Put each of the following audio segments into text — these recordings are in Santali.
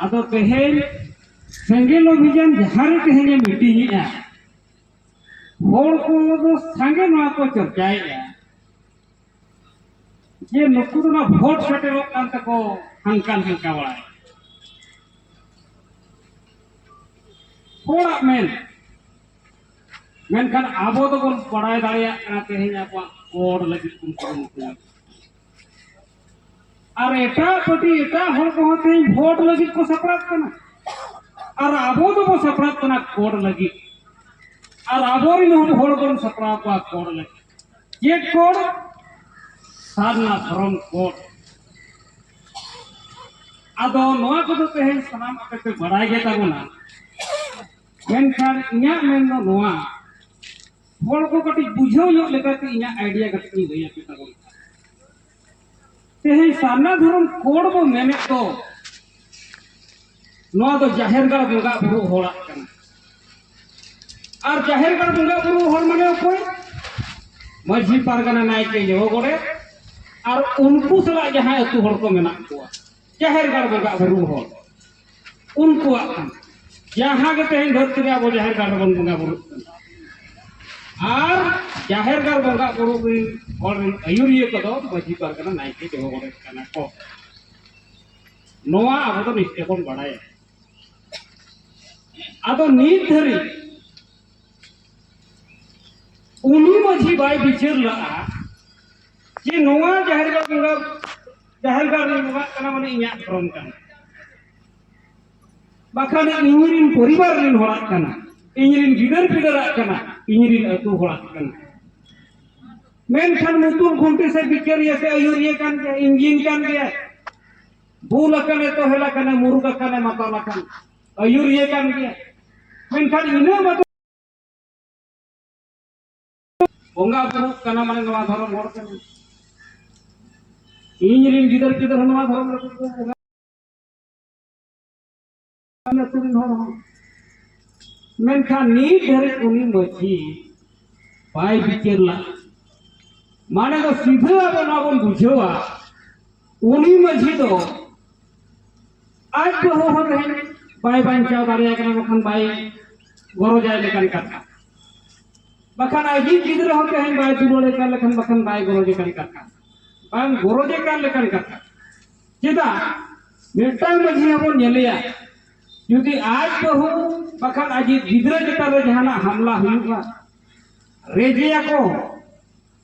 ᱟᱫᱚ ᱛᱮᱦᱮᱧ ᱥᱮᱸᱜᱮᱞ ᱚᱵᱷᱤᱡᱟᱱ ᱡᱟᱦᱟᱸ ᱨᱮ ᱛᱮᱦᱮᱧ ᱮ ᱢᱤᱴᱤᱝ ᱮᱫᱼᱟ ᱦᱚᱲ ᱠᱚ ᱫᱚ ᱥᱟᱸᱜᱮ ᱱᱚᱣᱟ ᱠᱚ ᱪᱚᱨᱪᱟᱭᱮᱫᱼᱟ ᱡᱮ ᱱᱩᱠᱩ ᱫᱚ ᱱᱚᱣᱟ ᱵᱷᱳᱴ ᱥᱮᱴᱮᱨᱚᱜ ᱠᱟᱱ ᱛᱮᱠᱚ ᱦᱟᱱᱠᱟ ᱦᱟᱱᱠᱟ ᱵᱟᱲᱟᱭ ᱦᱚᱲᱟᱜ ᱢᱮᱱ ᱢᱮᱱᱠᱷᱟᱱ ᱟᱵᱚ ᱫᱚᱵᱚᱱ ᱵᱟᱲᱟᱭ ᱫᱟᱲᱮᱭᱟᱜ ᱠᱟᱱᱟ ᱛᱮᱦᱮᱧ ᱟᱵᱚᱣᱟᱜ ᱦᱚᱲ ᱞᱟᱹᱜᱤᱫ ᱵᱚᱱ ᱠᱩᱨᱩᱢᱩᱴᱩᱭᱟ ᱟᱨ ᱮᱴᱟᱜ ᱯᱟᱹᱴᱤ ᱮᱴᱟᱜ ᱦᱚᱲ ᱠᱚᱦᱚᱸ ᱛᱮᱦᱮᱧ ᱵᱷᱳᱴ ᱞᱟᱹᱜᱤᱫ ᱠᱚ ᱥᱟᱯᱲᱟᱜ ᱠᱟᱱᱟ ᱟᱨ ᱟᱵᱚ ᱫᱚᱵᱚ ᱥᱟᱯᱲᱟᱜ ᱠᱟᱱᱟ ᱠᱳᱰ ᱞᱟᱹᱜᱤᱫ ᱟᱨ ᱟᱵᱚᱨᱮᱱ ᱦᱚᱲ ᱵᱚᱱ ᱥᱟᱯᱲᱟᱣ ᱠᱚᱣᱟ ᱠᱳᱰ ᱞᱟᱹᱜᱤᱫ ᱪᱮᱫ ᱠᱳᱰ ᱥᱟᱨᱱᱟ ᱫᱷᱚᱨᱚᱢ ᱠᱳᱰ ᱟᱫᱚ ᱱᱚᱣᱟ ᱠᱚᱫᱚ ᱛᱮᱦᱮᱧ ᱥᱟᱱᱟᱢ ᱟᱯᱮ ᱯᱮ ᱵᱟᱲᱟᱭ ᱜᱮ ᱛᱟᱵᱚᱱᱟ ᱢᱮᱱᱠᱷᱟᱱ ᱤᱧᱟᱹᱜ ᱢᱮᱱ ᱫᱚ ᱱᱚᱣᱟ ᱦᱚᱲ ᱠᱚ ᱠᱟᱹᱴᱤᱡ ᱵᱩᱡᱷᱟᱹᱣ ᱧᱚᱜ ᱞᱮᱠᱟᱛᱮ ᱤᱧᱟᱹᱜ ᱟᱭᱰᱤᱭᱟ ᱠᱟᱹᱴᱤᱡ ᱤᱧ ᱞᱟᱹᱭ ᱟᱯᱮ ᱛᱟᱵᱚᱱ ᱛᱮᱦᱮᱧ ᱥᱟᱨᱱᱟ ᱫᱷᱚᱨᱚᱢ ᱠᱳᱰ ᱵᱚ ᱢᱮᱱᱮᱫ ᱫᱚ ᱱᱚᱣᱟ ᱫᱚ ᱡᱟᱦᱮᱨ ᱜᱟᱲ ᱵᱚᱸᱜᱟ ᱵᱩᱨᱩ ᱦᱚᱲᱟᱜ ᱠᱟᱱᱟ ᱟᱨ ᱡᱟᱦᱮᱨ ᱜᱟᱲ ᱵᱚᱸᱜᱟ ᱵᱩᱨᱩ ᱦᱚᱲ ᱢᱟᱱᱮ ᱚᱠᱚᱭ ᱢᱟᱹᱡᱷᱤ ᱯᱟᱨᱜᱟᱱᱟ ᱱᱟᱭᱠᱮ ᱡᱚᱦᱚ ᱜᱚᱰᱮᱛ ᱟᱨ ᱩᱱᱠᱩ ᱥᱟᱞᱟᱜ ᱡᱟᱦᱟᱸᱭ ᱟᱹᱛᱩ ᱦᱚᱲ ᱠᱚ ᱢᱮᱱᱟᱜ ᱠᱚᱣᱟ ᱡᱟᱦᱮᱨ ᱜᱟᱲ ᱵᱚᱸᱜᱟ ᱟᱵᱚ ᱨᱩ ᱦᱚᱲ ᱩᱱᱠᱩᱣᱟᱜ ᱠᱟᱱᱟ ᱡᱟᱦᱟᱸ ᱜᱮ ᱛᱮᱦᱮᱧ ᱫᱷᱟᱹᱨᱛᱤ ᱨᱮ ᱟᱵᱚ ᱡᱟᱦᱮᱨ ᱜᱟᱲ ᱨᱮᱵᱚᱱ ᱵᱚᱸᱜᱟ ᱵᱩᱨᱩᱜ ᱠᱟᱱᱟ ᱟᱨ ᱡᱟᱦᱮᱨ ᱜᱟᱲ ᱵᱚᱸᱜᱟ ᱵᱩᱨᱩ ᱨᱮᱱ ᱦᱚᱲ ᱨᱮᱱ ᱟᱹᱭᱩᱨᱤᱭᱟᱹ ᱠᱚᱫᱚ ᱢᱟᱹᱡᱷᱤ ᱯᱟᱨᱜᱟᱱᱟ ᱱᱟᱭᱠᱮ ᱡᱚᱜᱚ ᱜᱚᱰᱮᱛ ᱠᱟᱱᱟ ᱠᱚ ᱱᱚᱣᱟ ᱟᱵᱚ ᱫᱚ ᱱᱤᱥᱪᱚᱭ ᱵᱚᱱ ᱵᱟᱲᱟᱭᱟ ᱟᱫᱚ ᱱᱤᱛ ᱫᱷᱟᱹᱨᱤᱡ ᱩᱱᱤ ᱢᱟᱹᱡᱷᱤ ᱵᱟᱭ ᱵᱤᱪᱟᱹᱨ ᱞᱟᱜᱼᱟ ᱡᱮ ᱱᱚᱣᱟ ᱡᱟᱦᱮᱨ ᱜᱟᱲ ᱵᱚᱸᱜᱟ ᱡᱟᱦᱮᱨ ᱜᱟᱲ ᱨᱮ ᱵᱚᱸᱜᱟᱜ ᱠᱟᱱᱟ ᱢᱟᱱᱮ ᱤᱧᱟᱹᱜ ᱫᱷᱚᱨᱚᱢ ᱠᱟᱱᱟ ᱵᱟᱠᱷᱟᱱ ᱤᱧ ᱨᱮᱱ ᱯᱚᱨᱤᱵᱟᱨ ᱨᱮᱱ ᱦᱚᱲᱟᱜ ᱠᱟᱱᱟ ᱤᱧ ᱨᱮᱱ ᱜᱤᱫᱟᱹᱨ ᱯᱤᱫᱟᱹᱨᱟᱜ ᱠᱟᱱᱟ ᱤᱧ ᱨᱮᱱ ᱟᱹᱛᱩ ᱦᱚᱲᱟᱜ ᱠᱟᱱᱟ ᱢᱮᱱᱠᱷᱟᱱ ᱢᱩᱛᱩᱞ ᱠᱷᱩᱱᱴᱤ ᱥᱮ ᱵᱤᱪᱟᱹᱨᱤᱭᱟᱹ ᱥᱮ ᱟᱹᱭᱩᱨᱤᱭᱟᱹ ᱠᱟᱱ ᱜᱮᱭᱟ ᱤᱧᱡᱤᱱ ᱠᱟᱱ ᱜᱮᱭᱟ ᱵᱩᱞ ᱟᱠᱟᱱᱮ ᱛᱚᱦᱮᱞ ᱟᱠᱟᱱᱮ ᱢᱩᱨᱩᱠ ᱟᱠᱟᱱᱮ ᱢᱟᱛᱟᱞ ᱟᱠᱟᱱ ᱟᱹᱭᱩᱨᱤᱭᱟᱹ ᱠᱟᱱ ᱜᱮᱭᱟ ᱢᱮᱱᱠᱷᱟᱱ ᱤᱱᱟᱹ ᱵᱟᱫᱚ ᱵᱚᱸᱜᱟ ᱵᱩᱨᱩᱜ ᱠᱟᱱᱟ ᱢᱟᱱᱮ ᱱᱚᱣᱟ ᱫᱷᱚᱨᱚᱢ ᱦᱚᱲ ᱠᱟᱱᱟ ᱤᱧ ᱨᱮᱱ ᱜᱤᱫᱟᱹᱨ ᱯᱤᱫᱟᱹᱨ ᱦᱚᱸ ᱱᱚᱣᱟ ᱫᱷᱚᱨᱚᱢ ᱨᱮᱠᱚ ᱵᱚᱸᱜᱟ ᱟᱹᱛᱩ ᱨᱮᱱ ᱦᱚᱲ ᱦᱚᱸ ᱢᱮᱱᱠᱷᱟᱱ ᱱᱤᱛ ᱫᱷᱟᱹᱨᱤᱡ ᱩᱱᱤ ᱢᱟᱺᱡᱷᱤ ᱵᱟᱭ ᱵᱤᱪᱟᱹᱨ ᱞᱟᱜᱼᱟ ᱢᱟᱱᱮ ᱫᱚ ᱥᱤᱫᱷᱟᱹ ᱟᱵᱚ ᱱᱚᱣᱟ ᱵᱚᱱ ᱵᱩᱡᱷᱟᱹᱣᱟ ᱩᱱᱤ ᱢᱟᱹᱡᱷᱤ ᱫᱚ ᱟᱡ ᱵᱟᱹᱦᱩ ᱦᱚᱸ ᱛᱮᱦᱮᱧ ᱵᱟᱭ ᱵᱟᱧᱪᱟᱣ ᱫᱟᱲᱮᱭᱟᱭ ᱠᱟᱱᱟ ᱵᱟᱠᱷᱟᱱ ᱵᱟᱭ ᱜᱚᱨᱚᱡᱟᱭ ᱞᱮᱠᱟᱱ ᱠᱟᱛᱷᱟ ᱵᱟᱠᱷᱟᱱ ᱟᱡᱤᱡ ᱜᱤᱫᱽᱨᱟᱹ ᱦᱚᱸ ᱛᱮᱦᱮᱧ ᱵᱟᱭ ᱫᱩᱞᱟᱹᱲᱮ ᱠᱟᱱ ᱞᱮᱠᱷᱟᱱ ᱵᱟᱠᱷᱟᱱ ᱵᱟᱭ ᱜᱚᱨᱚᱡᱮ ᱠᱟᱱ ᱠᱟᱛᱷᱟ ᱵᱟᱝ ᱜᱚᱨᱚᱡᱮ ᱠᱟᱱ ᱞᱮᱠᱟᱱ ᱠᱟᱛᱷᱟ ᱪᱮᱫᱟᱜ ᱢᱤᱫᱴᱟᱝ ᱢᱟᱹᱡᱷᱤ ᱦᱚᱸᱵᱚᱱ ᱧᱮᱞᱮᱭᱟ ᱡᱩᱫᱤ ᱟᱡ ᱵᱟᱹᱦᱩ ᱵᱟᱠᱷᱟᱱ ᱟᱡᱤᱡ ᱜᱤᱫᱽᱨᱟᱹ ᱪᱮᱛᱟᱱ ᱨᱮ ᱡᱟᱦᱟᱱᱟᱜ ᱦᱟᱢᱞᱟ ᱦᱩᱭᱩᱜᱼᱟ ᱨᱮᱡᱮᱭᱟᱠᱚ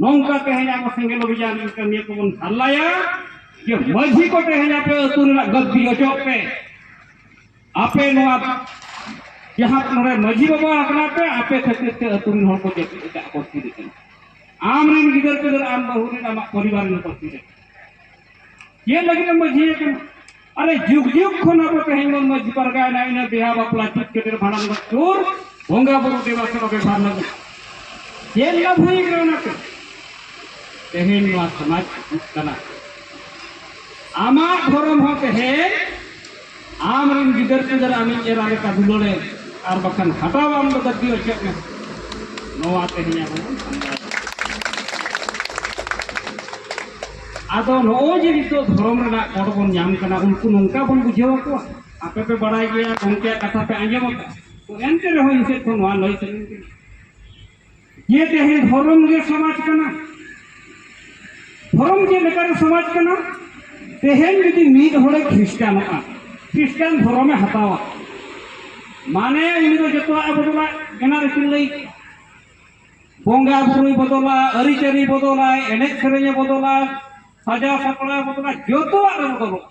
ᱱᱚᱝᱠᱟ ᱛᱮᱦᱮᱧ ᱟᱵᱚ ᱥᱮᱸᱜᱮᱞ ᱚᱵᱷᱤᱡᱟᱱ ᱨᱮᱱ ᱠᱟᱹᱢᱤᱭᱟᱹ ᱠᱚᱵᱚᱱ ᱦᱟᱨᱞᱟᱭᱟ ᱡᱮ ᱢᱟᱹᱡᱷᱤ ᱠᱚ ᱛᱮᱦᱮᱧ ᱟᱯᱮ ᱟᱹᱛᱩ ᱨᱮᱱᱟᱜ ᱜᱟᱹᱫᱽᱫᱤ ᱚᱪᱚᱜ ᱯᱮ ᱟᱯᱮ ᱱᱚᱣᱟ ᱡᱟᱦᱟᱸ ᱱᱚᱰᱮ ᱢᱟᱹᱡᱷᱤ ᱵᱟᱵᱟ ᱟᱠᱟᱱᱟ ᱯᱮ ᱟᱯᱮ ᱠᱷᱟᱹᱛᱤᱨ ᱛᱮ ᱟᱹᱛᱩ ᱨᱮᱱ ᱦᱚᱲ ᱠᱚ ᱡᱟᱹᱯᱤᱫ ᱮᱴᱟᱜ ᱠᱚ ᱛᱷᱤᱨ ᱟᱠᱟᱱᱟ ᱟᱢ ᱨᱮᱱ ᱜᱤᱫᱟᱹᱨ ᱯᱤᱫᱟᱹᱨ ᱟᱢ ᱵᱟᱹᱦᱩ ᱨᱮᱱ ᱟᱢᱟᱜ ᱯᱚᱨᱤᱵᱟᱨ ᱨᱮᱱ ᱠᱚ ᱛᱷᱤᱨ ᱟᱠᱟᱱᱟ ᱪᱮᱫ ᱞᱟᱹᱜᱤᱫ ᱮᱢ ᱢᱟᱹᱡᱷᱤ ᱟᱠᱟᱱᱟ ᱟᱨᱮ ᱡᱩᱜᱽ ᱡᱩᱜᱽ ᱠᱷᱚᱱ ᱟᱵᱚ ᱛᱮᱦᱮᱧ ᱵᱚᱱ ᱢᱟᱹᱡᱷᱤ ᱯᱟᱨᱜᱟᱭᱮᱱᱟ ᱤᱱᱟᱹ ᱵᱤᱦᱟ ᱵᱟᱯᱞᱟ ᱪᱮᱫ ᱠᱷᱟᱹᱛᱤᱨ ᱵᱷᱟᱸᱰᱟᱱ ᱜᱚᱡ ᱥᱩᱨ ᱵᱚᱸᱜᱟ ᱵᱩᱨᱩ ᱫᱮᱵᱟ ᱥᱮᱵᱟ ᱵᱮᱵᱷᱟᱨ ᱞᱟᱹᱜᱤᱫ ᱪᱮᱫ ᱞᱟᱵᱷ ᱦᱩᱭ ᱠᱟᱱᱟ ᱚᱱᱟᱛᱮ ᱛᱮᱦᱮᱧ ᱱᱚᱣᱟ ᱥᱚᱢᱟᱡᱽ ᱦᱤᱡᱩᱜ ᱠᱟᱱᱟ ᱟᱢᱟᱜ ᱫᱷᱚᱨᱚᱢ ᱦᱚᱸ ᱛᱮᱦᱮᱧ ᱟᱢ ᱨᱮᱱ ᱜᱤᱫᱟᱹᱨ ᱯᱤᱫᱟᱹᱨ ᱟᱢᱤᱡ ᱮᱨᱟ ᱞᱮᱠᱟ ᱫᱩᱞᱟᱹᱲᱮ ᱟᱨ ᱵᱟᱠᱷᱟᱱ ᱦᱟᱛᱟᱣ ᱟᱢ ᱫᱚ ᱵᱟᱹᱫᱤ ᱚᱪᱚᱜ ᱢᱮ ᱱᱚᱣᱟ ᱛᱮᱦᱮᱧ ᱟᱵᱚ ᱵᱚᱱ ᱥᱟᱢᱵᱟᱣ ᱟᱫᱚ ᱱᱚᱜᱼᱚᱭ ᱡᱮ ᱱᱤᱛᱚᱜ ᱫᱷᱚᱨᱚᱢ ᱨᱮᱱᱟᱜ ᱠᱚᱰ ᱵᱚᱱ ᱧᱟᱢ ᱠᱟᱱᱟ ᱩᱱᱠᱩ ᱱᱚᱝᱠᱟ ᱵᱚᱱ ᱵᱩᱡᱷᱟᱹᱣ ᱟᱠᱚᱣᱟ ᱟᱯᱮ ᱯᱮ ᱵᱟᱲᱟᱭ ᱜᱮᱭᱟ ᱜᱚᱢᱠᱮᱭᱟᱜ ᱠᱟᱛᱷᱟ ᱯᱮ ᱟᱸᱡᱚᱢ ᱟᱠᱟᱫ ᱛᱚ ᱮᱱᱛᱮ ᱨᱮᱦᱚᱸ ᱤᱧ ᱥᱮᱫ ᱠᱷᱚᱱ ᱱᱚᱣᱟ ᱞᱟᱹᱭ ᱥᱟᱱᱟᱧ ᱠᱟᱱᱟ ᱡᱮ ᱛᱮᱦᱮᱧ ᱫᱷᱚᱨᱚᱢ ᱜᱮ ᱥᱚᱢᱟᱡᱽ ᱠᱟᱱᱟ ᱫᱷᱚᱨᱚᱢ ᱪᱮᱫ ᱞᱮᱠᱟᱨᱮ ᱥᱚᱢᱟᱡᱽ ᱠᱟᱱᱟ ᱛᱮᱦᱮᱧ ᱡᱩᱫᱤ ᱢᱤᱫ ᱦᱚᱲᱮ ᱠᱷᱨᱤᱥᱴᱟᱱᱚᱜᱼᱟ ᱠᱷᱨᱤᱥᱴᱟᱱ ᱫᱷᱚᱨᱚᱢᱮ ᱦᱟᱛᱟᱣᱟ ᱢᱟᱱᱮ ᱩᱱᱤ ᱫᱚ ᱡᱚᱛᱚᱣᱟᱜ ᱮ ᱵᱚᱫᱚᱞᱟ ᱮᱱᱟᱝ ᱨᱮᱠᱤᱱ ᱞᱟᱹᱭ ᱠᱮᱫᱟ ᱵᱚᱸᱜᱟ ᱵᱩᱨᱩᱭ ᱵᱚᱫᱚᱞᱟ ᱟᱹᱨᱤᱪᱟᱹᱞᱤ ᱵᱚᱫᱚᱞᱟᱭ ᱮᱱᱮᱡ ᱥᱮᱨᱮᱧᱮ ᱵᱚᱫᱚᱞᱟ ᱥᱟᱡᱟᱣ ᱥᱟᱯᱲᱟᱣ ᱵᱚᱫᱚᱞᱟ ᱡᱚᱛᱚᱣᱟᱜ ᱨᱮ ᱵᱚᱫᱚᱞᱚᱜᱼᱟ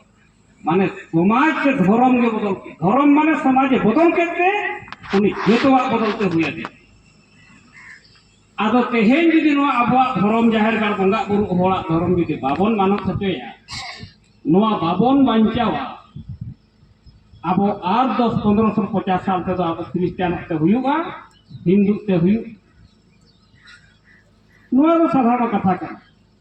ᱢᱟᱱᱮ ᱥᱚᱢᱟᱡᱽ ᱥᱮ ᱫᱷᱚᱨᱚᱢ ᱜᱮ ᱵᱚᱫᱚᱞ ᱠᱮᱫ ᱫᱷᱚᱨᱚᱢ ᱢᱟᱱᱮ ᱥᱚᱢᱟᱡᱽ ᱮ ᱵᱚᱫᱚᱞ ᱠᱮᱫ ᱛᱮ ᱩᱱᱤ ᱡᱚᱛᱚᱣᱟᱜ ᱵᱚᱫᱚᱞ ᱛᱮ ᱦᱩᱭ ᱟᱫᱮᱭᱟ ᱟᱫᱚ ᱛᱮᱦᱮᱧ ᱡᱩᱫᱤ ᱱᱚᱣᱟ ᱟᱵᱚᱣᱟᱜ ᱫᱷᱚᱨᱚᱢ ᱡᱟᱦᱮᱨ ᱜᱟᱲ ᱵᱚᱸᱜᱟ ᱵᱩᱨᱩ ᱦᱚᱲᱟᱜ ᱫᱷᱚᱨᱚᱢ ᱡᱩᱫᱤ ᱵᱟᱵᱚᱱ ᱢᱟᱱᱚᱛ ᱦᱚᱪᱚᱭᱟ ᱱᱚᱣᱟ ᱵᱟᱵᱚᱱ ᱵᱟᱧᱪᱟᱣᱟ ᱟᱵᱚ ᱟᱨ ᱫᱚᱥ ᱯᱚᱱᱨᱚ ᱥᱚ ᱯᱚᱪᱟᱥ ᱥᱟᱞ ᱛᱮᱫᱚ ᱟᱵᱚ ᱠᱷᱨᱤᱥᱴᱟᱱᱚᱜ ᱛᱮ ᱦᱩᱭᱩᱜᱼᱟ ᱦᱤᱱᱫᱩ ᱛᱮ ᱦᱩᱭᱩᱜ ᱱᱚᱣᱟ ᱫᱚ ᱥᱟᱫᱷᱟᱨᱚᱱ ᱠᱟᱛᱷᱟ ᱠᱟᱱᱟ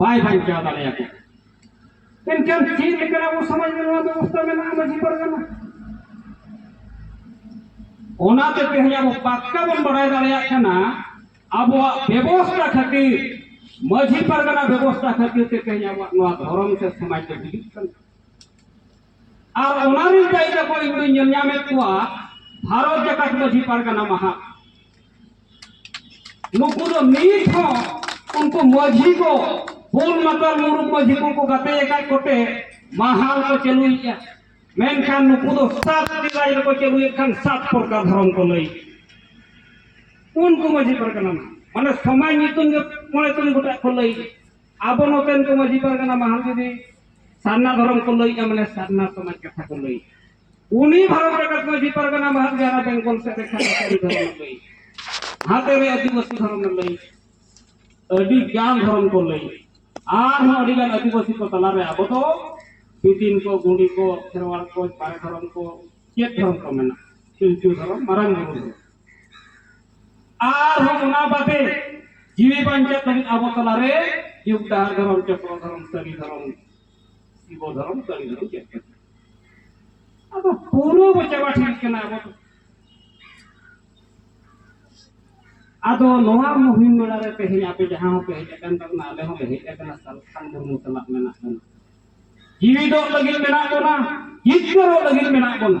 ᱵᱟᱭ ᱵᱟᱧᱪᱟᱣ ᱫᱟᱲᱮᱭᱟᱠᱚ ᱮᱱᱠᱷᱟᱱ ᱪᱮᱫ ᱞᱮᱠᱟ ᱟᱵᱚ ᱥᱚᱢᱟᱡᱽ ᱨᱮ ᱱᱚᱣᱟ ᱵᱮᱵᱚᱥᱛᱷᱟ ᱢᱮᱱᱟᱜᱼᱟ ᱢᱟᱹᱡᱷᱤ ᱯᱟᱨᱜᱟᱱᱟ ᱚᱱᱟᱛᱮ ᱛᱮᱦᱮᱧ ᱟᱵᱚ ᱯᱟᱠᱠᱟ ᱵᱚᱱ ᱵᱟᱲᱟᱭ ᱫᱟᱲᱮᱭᱟᱜ ᱠᱟᱱᱟ ᱟᱵᱚᱣᱟᱜ ᱵᱮᱵᱚᱥᱛᱷᱟ ᱠᱷᱟᱹᱛᱤᱨ ᱢᱟᱹᱡᱷᱤ ᱯᱟᱨᱜᱟᱱᱟ ᱵᱮᱵᱚᱥᱛᱷᱟ ᱠᱷᱟᱹᱛᱤᱨ ᱛᱮ ᱛᱮᱦᱮᱧ ᱟᱵᱚᱣᱟᱜ ᱱᱚᱣᱟ ᱫᱷᱚᱨᱚᱢ ᱥᱮ ᱥᱚᱢᱟᱡᱽ ᱫᱚ ᱦᱤᱡᱩᱜ ᱠᱟᱱᱟ ᱟᱨ ᱚᱱᱟᱨᱤᱧ ᱞᱟᱹᱭ ᱫᱟᱠᱚ ᱤᱧ ᱫᱚᱧ ᱧᱮᱞ ᱧᱟᱢᱮᱫ ᱠᱚᱣᱟ ᱵᱷᱟᱨᱚᱛ ᱡᱟᱠᱟᱛ ᱢᱟᱹᱡᱷᱤ ᱯᱟᱨᱜᱟᱱᱟ ᱢᱟᱦᱟ ᱱᱩᱠᱩ ᱫᱚ ᱱᱤᱛ ᱦᱚᱸ ᱩᱱᱠᱩ ᱢᱟᱹᱡᱷᱤ ᱠᱚ ᱵᱩᱞ ᱢᱟᱛᱟᱞ ᱢᱩᱨᱩᱠ ᱢᱟᱹᱡᱷᱤ ᱠᱚᱠᱚ ᱜᱟᱛᱮ ᱟᱠᱟᱫ ᱠᱚᱛᱮ ᱢᱟᱦᱟᱞ ᱠᱚ ᱪᱟᱹᱞᱩᱭᱮᱫᱼᱟ ᱢᱮᱱᱠᱷᱟᱱ ᱱᱩᱠᱩ ᱫᱚ ᱥᱟᱛ ᱨᱟᱡᱽ ᱨᱮᱠᱚ ᱪᱟᱹᱞᱩᱭᱮᱫ ᱠᱷᱟᱱ ᱥᱟᱛ ᱯᱨᱚᱠᱟᱨ ᱫᱷᱚᱨᱚᱢ ᱠᱚ ᱞᱟᱹᱭ ᱩᱱᱠᱩ ᱢᱟᱹᱡᱷᱤ ᱯᱟᱨᱜᱟᱱᱟ ᱢᱟᱱᱮ ᱥᱚᱢᱟᱡᱽ ᱧᱩᱛᱩᱢ ᱜᱮ ᱢᱚᱬᱮ ᱛᱩᱨᱩᱭ ᱜᱚᱴᱟᱜ ᱠᱚ ᱞᱟᱹᱭ ᱟᱵᱚ ᱱᱚᱛᱮᱱ ᱠᱚ ᱢᱟᱹᱡᱷᱤ ᱯᱟᱨᱜᱟᱱᱟ ᱢᱟᱦᱟᱞ ᱡᱩᱫᱤ ᱥᱟᱨᱱᱟ ᱫᱷᱚᱨᱚᱢ ᱠᱚ ᱞᱟᱹᱭᱮᱜᱼᱟ ᱢᱟᱱᱮ ᱥᱟᱨᱱᱟ ᱥᱚᱢᱟᱡᱽ ᱠᱟᱛᱷᱟ ᱠᱚ ᱞᱟᱹᱭᱮᱜᱼᱟ ᱩᱱᱤ ᱵᱷᱟᱨᱚᱛ ᱨᱮᱱᱟᱜ ᱢᱟᱹᱡᱷᱤ ᱯᱟᱨᱜᱟᱱᱟ ᱢᱟᱦᱟᱞ ᱡᱟᱦᱟᱸ ᱵᱮᱝᱜᱚᱞ ᱥᱮᱫ ᱨᱮ ᱠᱷᱟᱱ ᱫᱷᱚᱨᱚᱢ ᱞᱟᱹᱭ ᱦᱟᱛᱮ ᱨᱮ ᱟᱹᱫᱤᱵᱟᱹᱥᱤ ᱫᱷᱚᱨᱚᱢ ᱞᱟᱹᱭ ᱟᱹᱰᱤ ᱜᱟᱱ ᱫᱷᱚᱨᱚᱢ ᱠᱚ ᱞᱟᱹᱭ ᱟᱨᱦᱚᱸ ᱟᱹᱰᱤ ᱜᱟᱱ ᱟᱹᱫᱤᱵᱟᱹᱥᱤ ᱠᱚ ᱛᱟᱞᱟᱨᱮ ᱟᱵᱚ ᱫᱚ ᱯᱤᱴᱤᱱ ᱠᱚ ᱜᱩᱸᱰᱤ ᱠᱚ ᱠᱷᱮᱨᱣᱟᱲ ᱠᱚ ᱵᱟᱨᱮ ᱫᱷᱚᱨᱚᱢ ᱠᱚ ᱪᱮᱫ ᱫᱷᱚᱨᱚᱢ ᱠᱚ ᱢᱮᱱᱟᱜᱼᱟ ᱯᱤᱞᱪᱩ ᱫᱷᱚᱨᱚᱢ ᱢᱟᱨᱟᱝ ᱵᱩᱨᱩ ᱫᱷᱚᱨᱚᱢ ᱟᱨ ᱦᱚᱸ ᱚᱱᱟ ᱵᱟᱫᱮ ᱡᱤᱣᱤ ᱵᱟᱧᱪᱟᱜ ᱞᱟᱹᱜᱤᱫ ᱟᱵᱚ ᱛᱟᱞᱟᱨᱮ ᱡᱩᱜᱽ ᱰᱟᱦᱟᱨ ᱫᱷᱚᱨᱚᱢ ᱪᱚᱠᱨᱚ ᱫᱷᱚᱨᱚᱢ ᱥᱟᱹᱨᱤ ᱫᱷᱚᱨᱚᱢ ᱥᱤᱵᱚ ᱫᱷᱚᱨᱚᱢ ᱥᱟᱹᱨᱤ ᱫᱷᱚᱨᱚᱢ ᱪᱮᱫ ᱠᱟᱱᱟ ᱟᱫᱚ ᱯᱩᱨᱟᱹ ᱵᱚ ᱪᱟᱵᱟ ᱴᱷᱤᱠ ᱠᱟᱱᱟ ᱟᱵᱚ ᱫᱚ ᱟᱫᱚ ᱱᱚᱣᱟ ᱢᱩᱦᱤᱢ ᱵᱮᱲᱟ ᱨᱮ ᱛᱮᱦᱮᱧ ᱟᱯᱮ ᱡᱟᱦᱟᱸ ᱦᱚᱸᱯᱮ ᱦᱮᱡ ᱟᱠᱟᱱ ᱛᱟᱵᱚᱱᱟ ᱟᱞᱮ ᱦᱚᱸᱞᱮ ᱦᱮᱡ ᱟᱠᱟᱱᱟ ᱥᱟᱞᱠᱷᱟᱱ ᱢᱩᱨᱢᱩ ᱥᱟᱞᱟᱜ ᱢᱮᱱᱟᱜ ᱵᱚᱱᱟ ᱡᱤᱣᱤᱫᱚᱜ ᱞᱟᱹᱜᱤᱫ ᱢᱮᱱᱟᱜ ᱵᱚᱱᱟ ᱡᱤᱛᱠᱟᱹᱨᱚᱜ ᱞᱟᱹᱜᱤᱫ ᱢᱮᱱᱟᱜ ᱵᱚᱱᱟ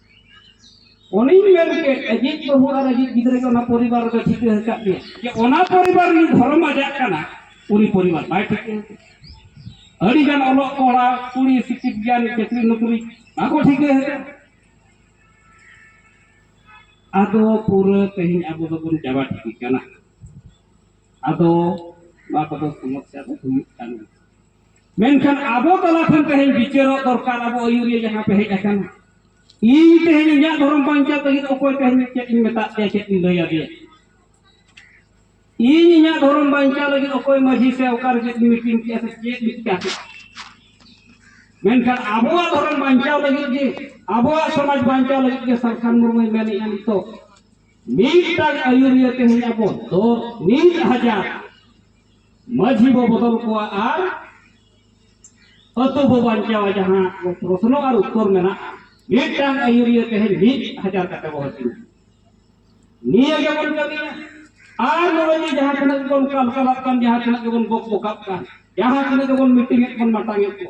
ᱩᱱᱤ ᱢᱮᱱ ᱠᱮᱫ ᱟᱡᱤᱡ ᱵᱟᱹᱦᱩ ᱟᱨ ᱟᱡᱤᱡ ᱜᱤᱫᱽᱨᱟᱹ ᱜᱮ ᱚᱱᱟ ᱯᱚᱨᱤᱵᱟᱨ ᱨᱮ ᱴᱷᱤᱠᱟᱹ ᱟᱠᱟᱫ ᱜᱮ ᱡᱮ ᱚᱱᱟ ᱯᱚᱨᱤᱵᱟᱨ ᱨᱤᱱ ᱫᱷᱚᱨᱚᱢ ᱟᱡᱟᱜ ᱠᱟᱱᱟ ᱩᱱᱤ ᱯᱚᱨᱤᱵᱟᱨ ᱵᱟᱭ ᱴᱷᱤᱠᱟᱹ ᱟᱹᱰᱤ ᱜᱟᱱ ᱚᱞᱚᱜ ᱠᱚᱲᱟ ᱠᱩᱲᱤ ᱥᱤᱠᱷᱤᱛ ᱜᱮᱭᱟᱱ ᱪᱟᱹᱠᱨᱤ ᱱᱚᱠᱨᱤ ᱵᱟᱠᱚ ᱴᱷᱤᱠᱟᱹ ᱟᱠᱟᱫ ᱟᱫᱚ ᱯᱩᱨᱟᱹ ᱛᱮᱦᱮᱧ ᱟᱵᱚ ᱫᱚᱵᱚᱱ ᱪᱟᱵᱟ ᱴᱷᱤᱠ ᱠᱟᱱᱟ ᱟᱫᱚ ᱱᱚᱣᱟ ᱠᱚᱫᱚ ᱥᱚᱢᱚᱥᱥᱟ ᱫᱚ ᱦᱩᱭᱩᱜ ᱠᱟᱱ ᱜᱮᱭᱟ ᱢᱮᱱᱠᱷᱟᱱ ᱟᱵᱚ ᱛᱟᱞᱟ ᱠᱷᱚᱱ ᱛᱮᱦᱮᱧ ᱵᱤᱪᱟᱹᱨᱚᱜ ᱫᱚᱨᱠᱟᱨ ᱟᱵᱚ ᱟᱹᱭᱩᱨᱤᱭᱟᱹ ᱡᱟᱦᱟᱸ ᱯᱮ ᱦᱮᱡ ᱟᱠᱟᱱᱟ ᱤᱧ ᱛᱮᱦᱮᱧ ᱤᱧᱟᱹᱜ ᱫᱷᱚᱨᱚᱢ ᱵᱟᱧᱪᱟᱣ ᱞᱟᱹᱜᱤᱫ ᱚᱠᱚᱭ ᱛᱮᱦᱮᱧ ᱪᱮᱫ ᱤᱧ ᱢᱮᱛᱟᱫ ᱯᱮᱭᱟ ᱪᱮᱫ ᱤᱧ ᱞᱟᱹᱭ ᱟᱫᱮᱭᱟ ᱤᱧ ᱤᱧᱟᱹᱜ ᱫᱷᱚᱨᱚᱢ ᱵᱟᱧᱪᱟᱣ ᱞᱟᱹᱜᱤᱫ ᱚᱠᱚᱭ ᱢᱟᱹᱡᱷᱤ ᱥᱮ ᱚᱠᱟᱨᱮ ᱪᱮᱫ ᱢᱤᱴᱤᱝ ᱠᱮᱜᱼᱟ ᱥᱮ ᱪᱮᱫ ᱢᱤᱫᱴᱟᱝ ᱢᱮᱱᱠᱷᱟᱱ ᱟᱵᱚᱣᱟᱜ ᱫᱷᱚᱨᱚᱢ ᱵᱟᱧᱪᱟᱣ ᱞᱟᱹᱜᱤᱫ ᱜᱮ ᱟᱵᱚᱣᱟᱜ ᱥᱚᱢᱟᱡᱽ ᱵᱟᱧᱪᱟᱣ ᱞᱟᱹᱜᱤᱫ ᱜᱮ ᱥᱟᱞᱠᱷᱟᱱ ᱢᱩᱨᱢᱩᱭ ᱢᱮᱱᱮᱜᱼᱟ ᱱᱤᱛᱚᱜ ᱢᱤᱫᱴᱟᱝ ᱟᱹᱭᱩᱨᱤᱭᱟᱹ ᱛᱮᱦᱮᱧ ᱟᱵᱚ ᱫᱚ ᱢᱤᱫ ᱦᱟᱡᱟᱨ ᱢᱟᱹᱡᱷᱤ ᱵᱚ ᱵᱚᱫᱚᱞ ᱠᱚᱣᱟ ᱟᱨ ᱟᱹᱛᱩ ᱵᱚ ᱵᱟᱧᱪᱟᱣᱟ ᱡᱟᱦᱟᱸ ᱯᱨᱚᱥᱱᱚ ᱟᱨ ᱩᱛᱛᱚᱨ ᱢᱮᱱᱟᱜᱼᱟ ᱢᱤᱫᱴᱟᱝ ᱟᱹᱭᱩᱨᱤᱭᱟᱹ ᱛᱮᱦᱮᱧ ᱢᱤᱫ ᱦᱟᱡᱟᱨ ᱠᱟᱛᱮ ᱵᱚ ᱦᱟᱹᱴᱤᱧᱟ ᱱᱤᱭᱟᱹ ᱜᱮᱵᱚᱱ ᱠᱟᱹᱢᱤᱭᱟ ᱟᱨ ᱱᱚᱜᱼᱚᱭ ᱡᱮ ᱡᱟᱦᱟᱸ ᱛᱤᱱᱟᱹᱜ ᱜᱮᱵᱚᱱ ᱠᱟᱞᱠᱟᱞᱟᱜ ᱠᱟᱱ ᱡᱟᱦᱟᱸ ᱛᱤᱱᱟᱹᱜ ᱜᱮᱵᱚᱱ ᱵᱚᱠ ᱵᱚᱠᱟᱜ ᱠᱟᱱ ᱡᱟᱦᱟᱸ ᱛᱤᱱᱟᱹᱜ ᱜᱮᱵᱚᱱ ᱢᱤᱴᱤᱝ ᱮᱫ ᱵᱚᱱ ᱢᱟᱴᱟᱝ ᱮᱫ ᱠᱚ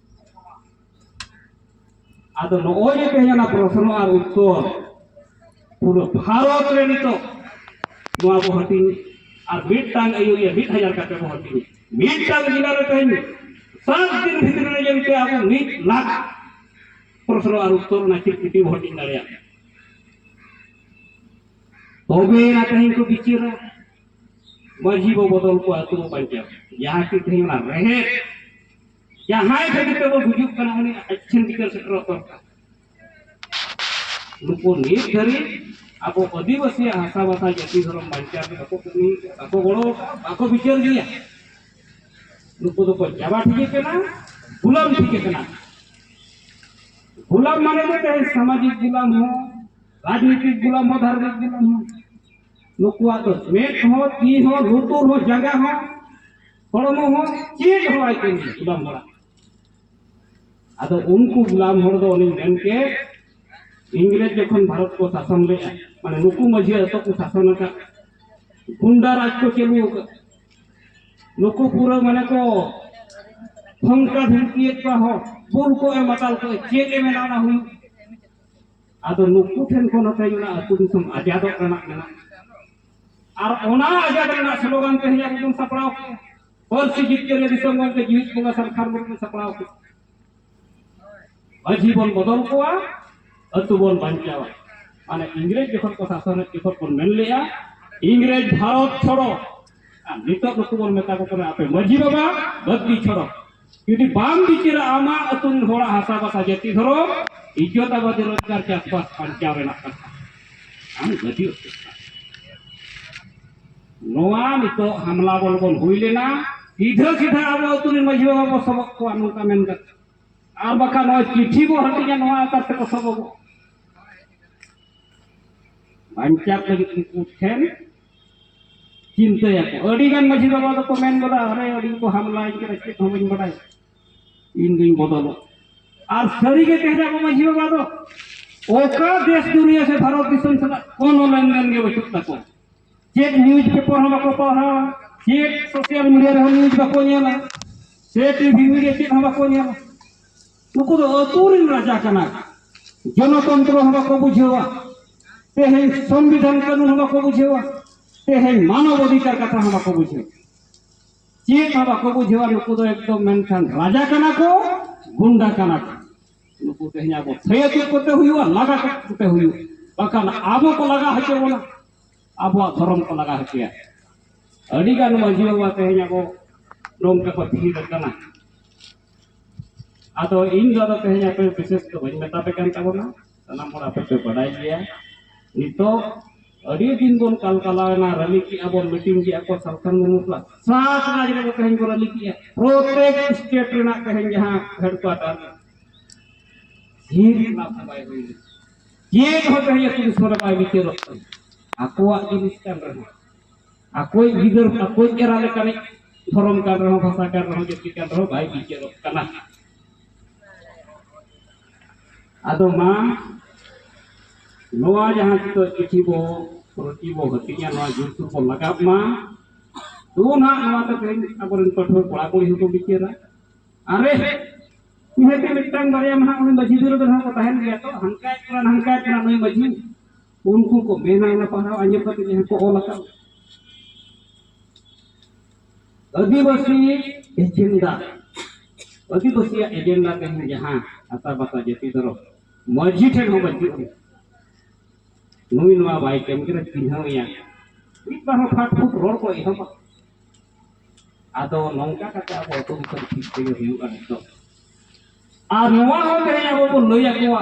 ᱟᱫᱚ ᱱᱚᱜᱼᱚᱭ ᱡᱮ ᱛᱮᱦᱮᱧ ᱚᱱᱟ ᱯᱨᱚᱥᱱᱚ ᱟᱨ ᱩᱛᱛᱚᱨ ᱯᱩᱨᱟᱹ ᱵᱷᱟᱨᱚᱛ ᱨᱮ ᱱᱤᱛᱚᱜ ᱱᱚᱣᱟ ᱵᱚ ᱦᱟᱹᱴᱤᱧ ᱟᱨ ᱢᱤᱫᱴᱟᱝ ᱟᱹᱭᱩᱨᱤᱭᱟᱹ ᱢᱤᱫ ᱦᱟᱡᱟᱨ ᱠᱟᱛᱮ ᱵᱚ ᱦᱟᱹᱴᱤᱧ ᱢᱤᱫᱴᱟᱝ ᱡᱤᱞᱟ ᱨᱮ ᱛᱮᱦᱮᱧ ᱥᱟᱛ ᱫᱤᱱ ᱵᱷᱤᱛᱨᱤ ᱨᱮ ᱡᱮᱱᱛᱮ ᱟᱵᱚ ᱢᱤᱫ ᱞᱟᱠᱷ ᱯᱨᱚᱥᱱᱚ ᱟᱨ ᱩᱛᱛᱚᱨ ᱚᱱᱟ ᱪᱤᱨᱠᱩᱴᱤ ᱵᱚ ᱦᱟᱹᱴᱤᱧ ᱫᱟᱲᱮᱭᱟᱜ ᱛᱚᱵᱮ ᱟᱱᱟ ᱛᱮᱦᱮᱧ ᱠᱚ ᱵᱤᱪᱟᱹᱨᱟ ᱢᱟᱹᱡᱷᱤ ᱵᱚ ᱵᱚᱫᱚᱞ ᱠᱚᱣᱟ ᱟᱹᱛᱩ ᱵᱚ ᱵᱟᱧᱪᱟᱣ ᱡᱟᱦᱟᱸ ᱠᱤ ᱛᱮᱦᱮᱧ ᱚᱱᱟ ᱨᱮᱦᱮᱫ ᱡᱟᱦᱟᱸᱭ ᱠᱷᱟᱹᱛᱤᱨ ᱛᱮᱵᱚᱱ ᱜᱩᱡᱩᱜ ᱠᱟᱱᱟ ᱩᱱᱤ ᱟᱪᱪᱷᱤᱱ ᱵᱤᱪᱟᱹᱨ ᱥᱮᱴᱮᱨᱚᱜ ᱫᱚᱨᱠᱟᱨ ᱱᱩᱠᱩ ᱱᱤᱛ ᱫᱷᱟᱹᱨᱤᱡ ᱟᱵᱚ ᱟᱹᱫᱤᱵᱟᱹᱥᱤᱭᱟᱜ ᱦᱟᱥᱟ ᱵᱷᱟᱥᱟ ᱡᱟᱹᱛᱤ ᱫᱷᱚᱨᱚᱢ ᱵᱟᱧᱪᱟᱣ ᱨᱮ ᱵᱟᱠᱚ ᱠᱟᱹᱢᱤ ᱵᱟᱠᱚ ᱜᱚᱲᱚ ᱵᱟᱠᱚ ᱵᱤᱪᱟᱹᱨ ᱜᱮᱭᱟ ᱱᱩᱠᱩ ᱫᱚᱠᱚ ᱪᱟᱵᱟ ᱴᱷᱤᱠ ᱠᱟᱱᱟ ᱜᱩᱞᱟᱢ ᱴᱷᱤᱠ ᱠᱟᱱᱟ ᱜᱩᱞᱟᱢ ᱢᱟᱱᱮ ᱫᱚ ᱛᱮᱦᱮᱧ ᱥᱟᱢᱟᱡᱤᱠ ᱜᱩᱞᱟᱢ ᱦᱚᱸ ᱨᱟᱡᱽᱱᱤᱛᱤᱠ ᱜᱩᱞᱟᱢ ᱦᱚᱸ ᱫᱷᱟᱨᱢᱤᱠ ᱜᱩᱞᱟᱢ ᱦᱚᱸ ᱱᱩᱠᱩᱣᱟᱜ ᱫᱚ ᱢᱮᱫ ᱦᱚᱸ ᱛᱤ ᱦᱚᱸ ᱞᱩᱛᱩᱨ ᱦᱚᱸ ᱡᱟᱸᱜᱟ ᱦᱚᱸ ᱦᱚᱲᱢᱚ ᱦᱚᱸ ᱪᱮᱫ ᱦᱚᱸ ᱵᱟᱭ ᱠᱟᱹᱢᱤ ᱜᱩᱞᱟᱢ ᱦᱚᱲᱟᱜ ᱟᱫᱚ ᱩᱱᱠᱩ ᱜᱩᱞᱟᱢ ᱦᱚᱲ ᱫᱚ ᱩᱱᱤ ᱢᱮᱱ ᱠᱮᱫ ᱤᱝᱨᱮᱡᱽ ᱡᱚᱠᱷᱚᱱ ᱵᱷᱟᱨᱚᱛ ᱠᱚ ᱥᱟᱥᱚᱱ ᱞᱮᱫᱼᱟ ᱢᱟᱱᱮ ᱱᱩᱠᱩ ᱢᱟᱹᱡᱷᱤ ᱟᱛᱳ ᱠᱚ ᱥᱟᱥᱚᱱ ᱟᱠᱟᱫ ᱜᱩᱱᱰᱟ ᱨᱟᱡᱽ ᱠᱚ ᱪᱟᱹᱞᱩ ᱟᱠᱟᱫ ᱱᱩᱠᱩ ᱯᱩᱨᱟᱹ ᱢᱟᱱᱮ ᱠᱚ ᱯᱷᱚᱝᱠᱟ ᱫᱷᱩᱢᱠᱤᱭᱮᱫ ᱠᱚᱣᱟ ᱦᱚᱲ ᱵᱩᱞ ᱠᱚ ᱮᱢ ᱟᱛᱟᱞ ᱠᱚ ᱪᱮᱫ ᱮ ᱢᱮᱱᱟ ᱚᱱᱟ ᱦᱩᱭᱩᱜ ᱟᱫᱚ ᱱᱩᱠᱩ ᱴᱷᱮᱱ ᱠᱷᱚᱱ ᱦᱚᱸ ᱛᱮᱦᱮᱧ ᱚᱱᱟ ᱟᱹᱛᱩ ᱫᱤᱥᱚᱢ ᱟᱡᱟᱫᱚᱜ ᱨᱮᱱᱟᱜ ᱢᱮᱱᱟᱜᱼᱟ ᱟᱨ ᱚᱱᱟ ᱟᱡᱟᱨ ᱨᱮᱱᱟᱜ ᱥᱞᱳᱜᱟᱱ ᱛᱮ ᱦᱤᱡᱩᱜ ᱵᱚᱱ ᱥᱟᱯᱲᱟᱣ ᱠᱮᱫᱟ ᱯᱟᱹᱨᱥᱤ ᱡᱤᱛᱠᱟᱹᱨ ᱞᱮ ᱫᱤᱥᱚᱢ ᱜᱚᱢᱠᱮ ᱡᱤᱣᱤᱫ ᱵᱚᱸᱜᱟ ᱥᱟᱱᱠᱷᱟᱨ ᱢᱩᱨᱢᱩ ᱥᱟᱯᱲᱟᱣ ᱠᱮᱫᱟ ᱢᱟᱹᱡᱷᱤ ᱵᱚᱱ ᱵᱚᱫᱚᱞ ᱠᱚᱣᱟ ᱟᱹᱛᱩ ᱵᱚᱱ ᱵᱟᱧᱪᱟᱣᱟ ᱢᱟᱱᱮ ᱤᱝᱨᱮᱡᱽ ᱡᱚᱠᱷᱚᱱ ᱠᱚ ᱥᱟᱥᱚᱱᱮᱫ ᱡᱚᱠᱷᱚᱱ ᱵᱚᱱ ᱢᱮᱱ ᱞᱮᱫᱼᱟ ᱤᱝᱨᱮᱡᱽ ᱵᱷᱟᱨᱚᱛ ᱪᱷᱚᱲᱚ ᱟᱨ ᱱᱤᱛᱚᱜ ᱱᱩᱠᱩ ᱵᱚᱱ ᱢᱮᱛᱟ ᱠᱚ ᱠᱟᱱᱟ ᱟᱯᱮ ᱢᱟᱹᱡᱷᱤ ᱵᱟᱵᱟ ᱵᱟᱹᱫᱽᱫᱤ ᱪᱷᱚᱲᱚ ᱡᱩᱫᱤ ᱵᱟᱢ ᱵᱤᱪᱟᱹᱨᱟ ᱟᱢᱟᱜ ᱟᱹᱛᱩ ᱨᱮᱱ ᱦᱚᱲᱟᱜ ᱦᱟᱥᱟ ᱵᱟᱥᱟ ᱡᱟᱹᱛᱤ ᱫᱷᱚᱨᱚᱢ ᱤᱡᱽᱡᱚᱛ ᱟᱵᱟᱫ ᱨᱳᱡᱽᱜᱟᱨ ᱪᱟᱥᱵᱟᱥ ᱵᱟᱧᱪᱟᱣ ᱨᱮᱱᱟᱜ ᱠᱟᱛᱷᱟ ᱟᱢ ᱜᱟᱹᱰᱤ ᱱᱚᱣᱟ ᱱᱤᱛᱚᱜ ᱦᱟᱢᱞᱟ ᱵᱚᱞ ᱵᱚᱱ ᱦᱩᱭ ᱞᱮᱱᱟ ᱥᱤᱫᱷᱟᱹ ᱥᱤᱫᱷᱟᱹ ᱟᱵᱚ ᱟᱹᱛᱩ ᱨᱮᱱ ᱢᱟᱺᱡᱷᱤ ᱵᱟᱵᱟ ᱵᱚ ᱥᱚᱵᱚᱜ ᱠᱚᱣᱟ ᱱᱚᱝᱠᱟ ᱢᱮᱱ ᱠᱟᱛᱮ ᱟᱨ ᱵᱟᱠᱷᱟᱱ ᱱᱚᱣᱟ ᱪᱤᱴᱷᱤ ᱵᱚ ᱦᱟᱹᱴᱤᱧᱟ ᱱᱚᱣᱟ ᱟᱠᱟᱨ ᱛᱮᱠᱚ ᱥᱚᱵᱚᱜᱚᱜ ᱵᱟᱧᱪᱟᱣ ᱞᱟᱹᱜᱤᱫ ᱩᱱᱠᱩ ᱴᱷᱮᱱ ᱪᱤᱱᱛᱟᱹᱭᱟᱠᱚ ᱟᱹᱰᱤᱜᱟᱱ ᱢᱟᱺᱡᱷᱤ ᱵᱟᱵᱟ ᱫᱚᱠᱚ ᱢᱮᱱ ᱜᱚᱫᱟ ᱟᱨᱮ ᱟᱹᱰᱤ ᱠᱚ ᱦᱟᱢᱞᱟᱭ ᱠᱟᱱᱟ ᱪᱮᱫ ᱦᱚᱸ ᱵᱟᱹᱧ ᱵᱟᱰᱟᱭ ᱤᱧ ᱫᱩᱧ ᱵᱚᱫᱚᱞᱚᱜ ᱟᱨ ᱥᱟᱹᱨᱤᱜᱮ ᱛᱮᱦᱮᱧ ᱟᱵᱚ ᱢᱟᱺᱡᱷᱤ ᱵᱟᱵᱟ ᱫᱚ ᱚᱠᱟ ᱫᱮᱥ ᱫᱩᱱᱤᱭᱟᱹ ᱥᱮ ᱵᱷᱟᱨᱚᱛ ᱫᱤᱥᱚᱢ ᱥᱟᱞᱟᱜ ᱠᱳᱱᱳ ᱞᱮᱱᱫᱮᱱ ᱜᱮ ᱵᱟᱹᱪᱩᱜ ᱛᱟᱠᱚᱣᱟ ᱪᱮᱫ ᱱᱤᱭᱩᱡᱽ ᱯᱮᱯᱟᱨ ᱦᱚᱸ ᱵᱟᱠᱚ ᱯᱟᱲᱦᱟᱣᱟ ᱪᱮᱫ ᱥᱳᱥᱟᱞ ᱢᱤᱰᱤᱭᱟ ᱨᱮᱦᱚᱸ ᱱᱤᱭᱩᱡᱽ ᱵᱟᱠᱚ ᱧᱮᱞᱟ ᱥᱮ ᱴᱤᱵᱷᱤ ᱢᱤᱰᱤᱭᱟ ᱪᱮᱫ ᱦᱚᱸ ᱵᱟᱠᱚ ᱧᱮᱞᱟ ᱱᱩᱠᱩ ᱫᱚ ᱟᱹᱛᱩ ᱨᱮᱱ ᱨᱟᱡᱟ ᱠᱟᱱᱟ ᱡᱚᱱᱚᱛᱚᱱᱛᱨᱚ ᱦᱚᱸ ᱵᱟᱠᱚ ᱵᱩᱡᱷᱟᱹᱣᱟ ᱛᱮᱦᱮᱧ ᱥᱚᱝᱵᱤᱫᱷᱟᱱ ᱠᱟᱹᱱᱩᱱ ᱦᱚᱸ ᱵᱟᱠᱚ ᱵᱩᱡᱷᱟᱹᱣᱟ ᱛᱮᱦᱮᱧ ᱢᱟᱱᱚᱵ ᱚᱫᱷᱤᱠᱟᱨ ᱠᱟᱛᱷᱟ ᱦᱚᱸ ᱵᱟᱠᱚ ᱵᱩᱡᱷᱟᱹᱣᱟ ᱪᱮᱫ ᱦᱚᱸ ᱵᱟᱠᱚ ᱵᱩᱡᱷᱟᱹᱣᱟ ᱱᱩᱠᱩ ᱫᱚ ᱮᱠᱫᱚᱢ ᱢᱮᱱᱠᱷᱟᱱ ᱨᱟᱡᱟ ᱠᱟᱱᱟ ᱠᱚ ᱜᱩᱱᱰᱟ ᱠᱟᱱᱟ ᱠᱚ ᱱᱩᱠᱩ ᱛᱮᱦᱮᱧ ᱟᱵᱚ ᱛᱷᱟᱹᱭᱟᱹ ᱪᱮᱫ ᱠᱚᱛᱮ ᱦᱩᱭᱩᱜᱼᱟ ᱞᱟᱜᱟ ᱠᱚᱛᱮ ᱦᱩᱭᱩᱜᱼᱟ ᱵᱟᱠᱷᱟᱱ ᱟᱵᱚ ᱠᱚ ᱞᱟᱜᱟ ᱦᱚᱪᱚ ᱵᱚᱱᱟ ᱟᱵᱚᱣᱟᱜ ᱫᱷᱚᱨᱚᱢ ᱠᱚ ᱞᱟᱜᱟ ᱦᱚᱪᱚᱭᱟ ᱟᱹᱰᱤᱜᱟᱱ ᱢᱟᱺᱡᱷᱤ ᱵᱟᱵᱟ ᱛᱮᱦᱮᱧ ᱟᱵᱚ ᱱᱚᱝᱠᱟ ᱠᱚ ᱛᱷᱤᱨ ᱟᱠᱟᱱᱟ ᱟᱫᱚ ᱤᱧ ᱫᱚ ᱟᱫᱚ ᱛᱮᱦᱮᱧ ᱟᱯᱮ ᱵᱤᱥᱮᱥ ᱫᱚ ᱵᱟᱹᱧ ᱢᱮᱛᱟ ᱯᱮ ᱠᱟᱱ ᱛᱟᱵᱚᱱᱟ ᱥᱟᱱᱟᱢ ᱦᱚᱲ ᱟᱯᱮ ᱯᱮ ᱵᱟᱰᱟᱭ ᱜᱮᱭᱟ ᱱᱤᱛᱚᱜ ᱟᱹᱰᱤ ᱫᱤᱱ ᱵᱚᱱ ᱠᱟᱞᱠᱟᱞᱟᱣᱮᱱᱟ ᱨᱟᱹᱞᱤ ᱠᱮᱜᱼᱟ ᱵᱚᱱ ᱢᱤᱴᱤᱝ ᱠᱮᱜᱼᱟ ᱠᱚ ᱥᱟᱞᱠᱷᱟᱱ ᱢᱩᱨᱢᱩ ᱥᱟᱞᱟᱜ ᱥᱟᱛ ᱨᱟᱡᱽ ᱨᱮ ᱛᱮᱦᱮᱧ ᱠᱚ ᱨᱟᱹᱞᱤ ᱠᱮᱜᱼᱟ ᱯᱨᱚᱛᱮᱠ ᱥᱴᱮᱴ ᱨᱮᱱᱟᱜ ᱛᱮᱦᱮᱧ ᱡᱟᱦᱟᱸ ᱦᱮᱰᱠᱩᱣᱟᱴᱟᱨ ᱡᱤᱞ ᱚᱱᱟ ᱠᱚ ᱵᱟᱭ ᱦᱩᱭ ᱞᱮᱱᱟ ᱪᱮᱫ ᱦᱚᱸ ᱛᱮᱦᱮᱧ ᱟᱹᱛᱩ ᱫᱤᱥᱚᱢ ᱨᱮ ᱵᱟᱭ ᱵᱤᱪᱟᱹᱨᱚᱜ ᱠᱟᱱᱟ ᱟᱠᱚᱣᱟᱜ ᱡᱤᱱᱤᱥ ᱠᱟᱱ ᱨᱮᱦᱚᱸ ᱟᱠᱚᱭ ᱜᱤᱫᱟᱹᱨ ᱟᱠᱚᱭ ᱮᱨᱟ ᱞᱮᱠᱟᱱᱤᱡ ᱫᱷᱚᱨᱚᱢ ᱠᱟᱱ ᱨᱮᱦᱚᱸ ᱵᱷᱟᱥᱟ ᱠᱟᱱ ᱨᱮᱦᱚᱸ ᱡᱟᱹᱛᱤ ᱠᱟᱱ ᱨᱮᱦᱚᱸ ᱵᱟᱭ ᱵᱤᱪᱟᱹᱨᱚᱜ ᱠᱟᱱᱟ ᱟᱫᱚ ᱢᱟ ᱱᱚᱣᱟ ᱡᱟᱦᱟᱸ ᱱᱤᱛᱚᱜ ᱪᱤᱴᱷᱤ ᱵᱚ ᱨᱩᱴᱤ ᱵᱚ ᱦᱟᱹᱴᱤᱧᱟ ᱱᱚᱣᱟ ᱡᱩᱛᱩ ᱵᱚ ᱞᱟᱜᱟᱣ ᱢᱟ ᱫᱚ ᱱᱟᱦᱟᱜ ᱱᱚᱣᱟ ᱫᱚ ᱛᱮᱦᱮᱧ ᱟᱵᱚᱨᱮᱱ ᱯᱟᱹᱴᱷᱩᱣᱟᱹ ᱠᱚᱲᱟ ᱠᱩᱲᱤ ᱦᱚᱸᱠᱚ ᱵᱤᱪᱟᱹᱨᱟ ᱟᱨᱮ ᱱᱤᱦᱟᱹᱛ ᱢᱤᱫᱴᱟᱝ ᱵᱟᱨᱭᱟ ᱢᱟ ᱱᱟᱦᱟᱜ ᱩᱱᱤ ᱢᱟᱹᱡᱷᱤ ᱵᱤᱨᱩᱫᱽ ᱨᱮᱦᱚᱸ ᱠᱚ ᱛᱟᱦᱮᱱ ᱜᱮᱭᱟ ᱛᱚ ᱦᱟᱱᱠᱟᱭᱮᱫ ᱠᱟᱱᱟ ᱱᱟᱝᱠᱟᱭᱮᱫ ᱠᱟᱱᱟ ᱱᱩᱭ ᱢᱟᱹᱡᱷᱤ ᱩᱱᱠᱩ ᱠᱚ ᱢᱮᱱᱟ ᱚᱱᱟ ᱯᱟᱲᱦᱟᱣ ᱟᱸᱡᱚᱢ ᱠᱟᱛᱮ ᱡᱟᱦᱟᱸ ᱠᱚ ᱚᱞ ᱟᱠᱟᱫ ᱟᱹᱫᱤᱵᱟᱹᱥᱤ ᱮᱡᱮᱱᱰᱟ ᱟᱹᱫᱤᱵᱟᱹᱥᱤᱭᱟᱜ ᱮᱡᱮᱱᱰᱟ ᱛᱮᱦᱮᱧ ᱡᱟᱦᱟᱸ ᱟᱛᱟ ᱵᱟᱛᱟ ᱡᱟᱹᱛᱤ ᱫᱷᱚᱨᱚᱢ ᱢᱟᱹᱡᱷᱤ ᱴᱷᱮᱱ ᱦᱚᱸ ᱵᱟᱹᱪᱩᱜ ᱟᱱᱟ ᱱᱩᱭ ᱱᱚᱣᱟ ᱵᱟᱭ ᱠᱟᱹᱢᱤ ᱠᱟᱱᱟ ᱪᱤᱱᱦᱟᱹᱣ ᱮᱭᱟ ᱢᱤᱫ ᱵᱟᱨ ᱦᱚᱸ ᱯᱷᱟᱴ ᱯᱷᱩᱴ ᱨᱚᱲ ᱠᱚ ᱮᱦᱚᱵᱟ ᱟᱫᱚ ᱱᱚᱝᱠᱟ ᱠᱟᱛᱮ ᱟᱵᱚ ᱟᱹᱛᱩ ᱫᱤᱥᱚᱢ ᱴᱷᱤᱠ ᱛᱮᱜᱮ ᱦᱩᱭᱩᱜᱼᱟ ᱱᱤᱛᱚᱜ ᱟᱨ ᱱᱚᱣᱟ ᱦᱚᱸ ᱛᱮᱦᱮᱧ ᱟᱵᱚ ᱵᱚᱱ ᱞᱟᱹᱭ ᱟᱠᱚᱣᱟ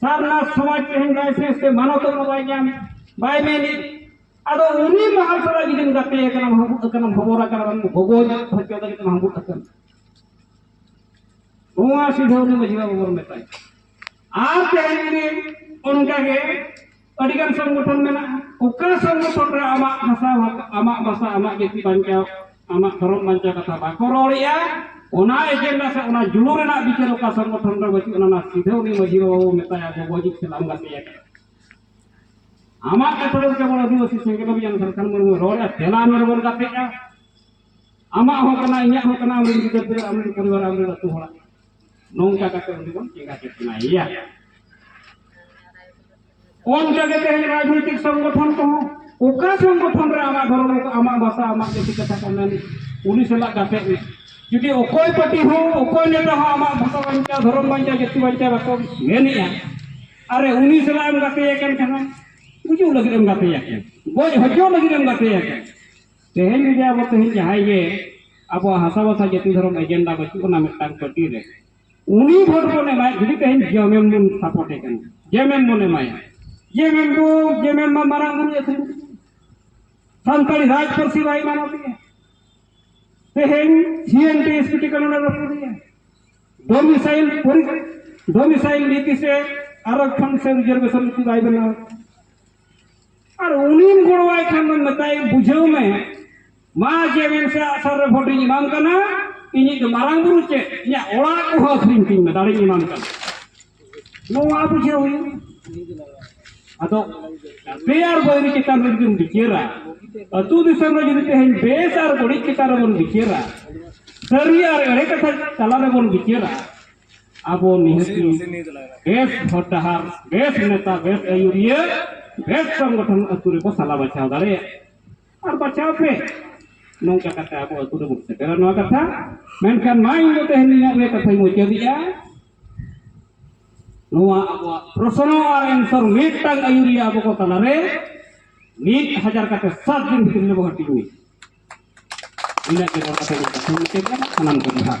ᱥᱟᱨᱱᱟᱛ ᱥᱚᱢᱟᱡᱽ ᱛᱮᱦᱮᱧ ᱞᱟᱭᱥᱮᱱᱥ ᱛᱮ ᱢᱟᱱᱚᱛ ᱦᱚᱸ ᱵᱟᱭ ᱧᱟᱢ ᱵᱟᱭ ᱢᱮᱱᱮᱫ ᱟᱫᱚ ᱩᱱᱤ ᱢᱟᱦᱟᱞ ᱥᱟᱞᱟᱜ ᱡᱩᱫᱤᱢ ᱜᱟᱛᱮ ᱟᱠᱟᱱᱟ ᱦᱟᱹᱵᱩᱫ ᱟᱠᱟᱱᱟ ᱵᱷᱚᱵᱚᱨ ᱟᱠᱟᱱᱟ ᱵᱟᱝ ᱜᱚᱜᱚ ᱦᱚᱪᱚ ᱞᱟᱹᱜᱤᱫ ᱛᱮᱢ ᱦᱟᱹᱵᱩᱫ ᱟᱠᱟᱱᱟ ᱱᱚᱣᱟ ᱥᱤᱫᱷᱟᱹ ᱩᱱᱤ ᱢᱟᱹᱡᱷᱤ ᱵᱟᱵᱟ ᱵᱚᱱ ᱢᱮᱛᱟᱭ ᱟᱨ ᱛᱮᱦᱮᱧ ᱡᱩᱫᱤ ᱚᱱᱠᱟᱜᱮ ᱟᱹᱰᱤ ᱜᱟᱱ ᱥᱚᱝᱜᱚᱴᱷᱚᱱ ᱢᱮᱱᱟᱜᱼᱟ ᱚᱠᱟ ᱥᱚᱝᱜᱚᱴᱷᱚᱱ ᱨᱮ ᱟᱢᱟᱜ ᱵᱷᱟᱥᱟ ᱟᱢᱟᱜ ᱵᱷᱟᱥᱟ ᱟᱢᱟᱜ ᱡᱟᱹᱛᱤ ᱵᱟᱧᱪᱟᱣ ᱟᱢᱟᱜ ᱫᱷᱚᱨᱚᱢ ᱵᱟᱧᱪᱟᱣ ᱠᱟᱛᱷᱟ ᱵᱟᱠᱚ ᱨᱚᱲᱮᱜᱼᱟ ᱚᱱᱟ ᱮᱡᱮᱱᱰᱟ ᱥᱮ ᱚᱱᱟ ᱡᱩᱞᱩ ᱨᱮᱱᱟᱜ ᱵᱤᱪᱟᱹᱨ ᱚᱠᱟ ᱥᱚᱝᱜᱚᱴᱷᱚᱱ ᱨᱮ ᱵᱟᱹᱪᱩᱜ ᱚᱱᱟ ᱥᱤᱫᱷᱟᱹ ᱩᱱᱤ ᱢᱟᱹᱡᱷᱤ ᱵᱟᱵᱟ ᱢᱮᱛᱟᱭᱟ ᱜᱚᱜᱚ ᱡᱤᱛ ᱥᱟᱞᱟᱢ ᱜᱟᱛᱮ ᱟᱠᱟᱱᱟ ᱟᱢᱟᱜ ᱠᱟᱛᱷᱟ ᱫᱚ ᱠᱮᱵᱚᱞ ᱟᱹᱫᱤᱵᱟᱹᱥᱤ ᱥᱮᱸᱜᱮᱞ ᱚᱵᱷᱤᱡᱟᱱ ᱥᱟᱨᱠᱷᱟᱱ ᱢᱩᱨᱢᱩ ᱨᱚᱲᱮᱜᱼᱟ ᱛᱮᱞᱟ ᱢᱮᱨ ᱵᱚᱱ ᱜᱟᱛᱮᱜᱼᱟ ᱟᱢᱟᱜ ᱦᱚᱸ ᱠᱟᱱᱟ ᱤᱧᱟᱹᱜ ᱦᱚᱸ ᱠᱟᱱᱟ ᱟᱢᱨᱮᱱ ᱜᱤᱫᱟᱹᱨ ᱯᱤᱫᱟᱹᱨ ᱟᱢᱨᱮᱱ ᱯᱚᱨᱤᱵᱟᱨ ᱟᱢᱨᱮᱱ ᱟᱹᱛᱩ ᱦᱚᱲᱟᱜ ᱱᱚᱝᱠᱟ ᱠᱟᱛᱮ ᱩᱱᱤ ᱵᱚᱱ ᱪᱮᱸᱜᱟ ᱪᱮᱛᱱᱟᱭᱮᱭᱟ ᱚᱱᱠᱟ ᱜᱮ ᱛᱮᱦᱮᱧ ᱨᱟᱡᱽᱱᱤᱛᱤᱠ ᱥᱚᱝᱜᱚᱴᱷᱚᱱ ᱠᱚᱦᱚᱸ ᱚᱠᱟ ᱥᱚᱝᱜᱚᱴᱷᱚᱱ ᱨᱮ ᱟᱢᱟᱜ ᱫᱷᱚᱨᱚᱢ ᱟᱢᱟᱜ ᱵᱷᱟᱥᱟ ᱟᱢᱟᱜ ᱡᱟᱹᱛᱤ ᱠᱟᱛᱷᱟ ᱠᱚ ᱢᱮᱱ ᱩᱱᱤ ᱥᱟᱞᱟᱜ ᱜᱟᱛᱮ ᱢᱮ ᱡᱩᱫᱤ ᱚᱠᱚᱭ ᱯᱟᱹᱴᱤ ᱦᱚᱸ ᱚᱠᱚᱭ ᱱᱮᱛᱟ ᱦᱚᱸ ᱟᱢᱟᱜ ᱵᱷᱟᱥᱟ ᱵᱟᱧᱪᱟᱣ ᱫᱷᱚᱨᱚᱢ ᱵᱟᱧᱪᱟᱣ ᱡᱟᱹᱛᱤ ᱵᱟᱧᱪᱟᱣ ᱵᱟᱠᱚ ᱢᱮᱱᱮᱜᱼᱟ ᱟᱨ ᱩᱱᱤ ᱥᱟᱞᱟᱜ ᱮᱢ ᱜᱟᱛᱮᱭᱟ ᱠᱟᱱ ᱠᱷᱟᱱ ᱜᱩᱡᱩᱜ ᱞᱟᱹᱜᱤᱫ ᱮᱢ ᱜᱟᱛᱮᱭᱟ ᱠᱟᱱ ᱜᱚᱡ ᱦᱚᱪᱚ ᱞᱟᱹᱜᱤᱫ ᱮᱢ ᱜᱟᱛᱮᱭᱟ ᱠᱟᱱ ᱛᱮᱦᱮᱧ ᱡᱩᱫᱤ ᱟᱵᱚ ᱛᱮᱦᱮᱧ ᱡᱟᱦᱟᱸᱭ ᱜᱮ ᱟᱵᱚᱣᱟᱜ ᱦᱟᱥᱟ ᱵᱷᱟᱥᱟ ᱡᱟᱹᱛᱤ ᱫᱷᱚᱨᱚᱢ ᱮᱡᱮᱱᱰᱟ ᱵᱟᱹᱪᱩᱜ ᱟᱱᱟ ᱢᱤᱫᱴᱟᱝ ᱯᱟᱹᱴᱤ ᱨᱮ ᱩᱱᱤ ᱵᱷᱳᱴ ᱵᱚᱱ ᱮᱢᱟᱭ ᱡᱩᱫᱤ ᱛᱮᱦᱮᱧ ᱡᱮᱢᱮᱢ ᱵᱚᱱ ᱥᱟᱯᱳᱨᱴᱮ ᱠᱟᱱᱟ ᱡᱮᱢᱮᱢ ᱵᱚᱱ ᱮᱢᱟᱭᱟ ᱡᱮᱢᱮᱢ ᱵᱚ ᱡᱮᱢᱮᱢ ᱢᱟ ᱢᱟᱨᱟᱝ ᱵᱩᱨᱩ ᱟᱹᱥᱩᱞ ᱥᱟᱱᱛᱟᱲᱤ ᱨᱟᱡᱽ ᱯᱟᱹᱨᱥᱤ ᱵᱟᱭ ᱢᱟᱱᱟᱣ ᱛᱮᱜᱮ ᱛᱮᱦᱮᱧ ᱥᱤᱮᱱᱴᱤ ᱮᱥᱯᱤᱴᱤ ᱠᱟᱱᱟ ᱚᱱᱟ ᱨᱟᱹᱯᱩᱫᱮᱭᱟ ᱰᱚᱢᱤᱥᱟᱭᱤᱞ ᱰᱚᱢᱤᱥᱟᱭᱤᱞ ᱱᱤᱛᱤ ᱥᱮ ᱟᱨᱚ ᱠᱷᱚᱱ ᱥᱮ ᱨᱤᱡᱟᱨᱵᱷᱮᱥᱚᱱ ᱱᱤᱛᱤ ᱵᱟᱭ ᱵᱮᱱᱟᱣ ᱟᱨ ᱩᱱᱤᱢ ᱜᱚᱲᱚᱣᱟᱭ ᱠᱷᱟᱱ ᱫᱚ ᱢᱮᱛᱟᱭ ᱵᱩᱡᱷᱟᱹᱣ ᱢᱮ ᱢᱟ ᱡᱮ ᱢᱮᱱ ᱥᱮ ᱟᱥᱟᱨ ᱨᱮ ᱵᱷᱳᱴᱤᱧ ᱮᱢᱟᱢ ᱠᱟᱱᱟ ᱤᱧᱤᱡ ᱫᱚ ᱢᱟᱨᱟᱝ ᱵᱩᱨᱩ ᱪᱮᱫ ᱤᱧᱟᱹᱜ ᱚᱲᱟᱜ ᱠᱚᱦᱚᱸ ᱟᱹᱠᱷᱨᱤᱧ ᱛᱤᱧ ᱢᱮ ᱫᱟᱲᱮᱧ ᱮᱢᱟᱢ ᱠᱟᱱᱟ ᱱᱚᱣᱟ ᱵᱩᱡᱷᱟᱹᱣ ᱦᱩᱭᱩᱜ ᱟᱫᱚ ᱜᱟᱛᱮ ᱟᱨ ᱵᱟᱹᱭᱨᱤ ᱪᱮᱛᱟᱱ ᱨᱮ ᱡᱩᱫᱤᱢ ᱵᱤᱪᱟᱹᱨᱟ ᱟᱹᱛᱩ ᱫᱤᱥᱚᱢ ᱨᱮ ᱡᱩᱫᱤ ᱛᱮᱦᱮᱧ ᱵᱮᱥ ᱟᱨ ᱵᱟᱹᱲᱤᱡ ᱪᱮᱛᱟᱱ ᱨᱮᱵᱚᱱ ᱵᱤᱪᱟᱹᱨᱟ ᱥᱟᱹᱨᱤ ᱟᱨ ᱮᱲᱮ ᱠᱟᱛᱷᱟ ᱛᱟᱞᱟ ᱨᱮᱵᱚᱱ ᱵᱤᱪᱟᱹᱨᱟ ᱟᱵᱚ ᱱᱤᱦᱟᱹᱛᱤ ᱵᱮᱥ ᱦᱚᱨ ᱰᱟᱦᱟᱨ ᱵᱮᱥ ᱱᱮᱛᱟ ᱵᱮᱥ ᱟᱹᱭᱩᱨᱤᱭᱟᱹ ᱵᱮᱥ ᱥᱚᱝᱜᱚᱴᱷᱚᱱ ᱟᱹᱛᱩ ᱨᱮᱵᱚ ᱥᱟᱞᱟ ᱵᱟᱪᱷᱟᱣ ᱫᱟᱲᱮᱭᱟᱜᱼᱟ ᱟᱨ ᱵᱟᱪᱷᱟᱣ ᱯᱮ ᱱᱚᱝᱠᱟ ᱠᱟᱛᱮ ᱟᱵᱚ ᱟᱹᱛᱩ ᱨᱮᱵᱚ ᱥᱮᱴᱮᱨᱟ ᱱᱚᱣᱟ ᱠᱟᱛᱷᱟ ᱢᱮᱱᱠᱷᱟᱱ ᱢᱟ ᱤᱧ ᱫᱚ ᱛᱮᱦᱮᱧ ᱤᱧᱟᱹᱜ ᱨᱮ ᱠᱟᱛᱷᱟᱧ ᱢᱩᱪᱟᱹᱫᱮᱜᱼᱟ ᱱᱚᱣᱟ ᱟᱵᱚᱣᱟᱜ ᱯᱨᱚᱥᱱᱚ ᱟᱨ ᱮᱱᱥᱚᱨ ᱢᱤᱫᱴᱟᱝ ᱟᱹᱭᱩᱨᱤᱭᱟᱹ ᱟᱵᱚ ᱠᱚ ᱛᱟᱞᱟᱨᱮ ᱢᱤᱫ ᱦᱟᱡᱟᱨ ᱠᱟᱛᱮ ᱥᱟᱛ ᱫᱤᱱ ᱵᱷᱤᱛᱨᱤ ᱨᱮᱵᱚ ᱦᱟᱹᱴᱤᱧ ᱤᱱᱟᱹᱜ ᱜᱮ ᱨᱚᱲ ᱠᱟᱛᱮ ᱥᱟᱱᱟᱢ ᱠᱚ ᱡᱚᱦᱟᱨ